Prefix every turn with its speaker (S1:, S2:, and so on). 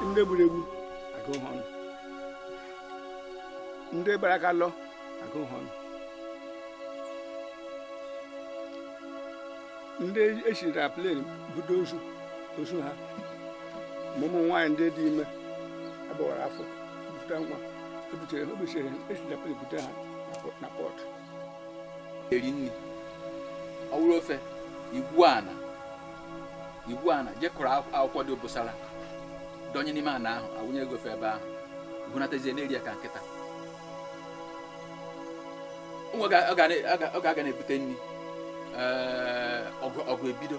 S1: ndị egburu egbu agụ ha ọnụ ndị gbara aka lọ agụ ha ọnụ ndị esiri na plen budo ozu ozu ha ma ụmụ nwaanyị ndị dị ime agbawara afọ ebute nwa ebutere ha obichere esijapụ ebute ha na
S2: pọt eri nri ọ wụrụ ofe i gwuo ana i gwuo ana jekọrọ akwụkwọ dị obosara dọnye n'ime ana ahụ awụnye gị ofe ebe ahụ bunatazie na-eri ya ka nkịta ọ ga-aga na-ebute nri ọgụ ebido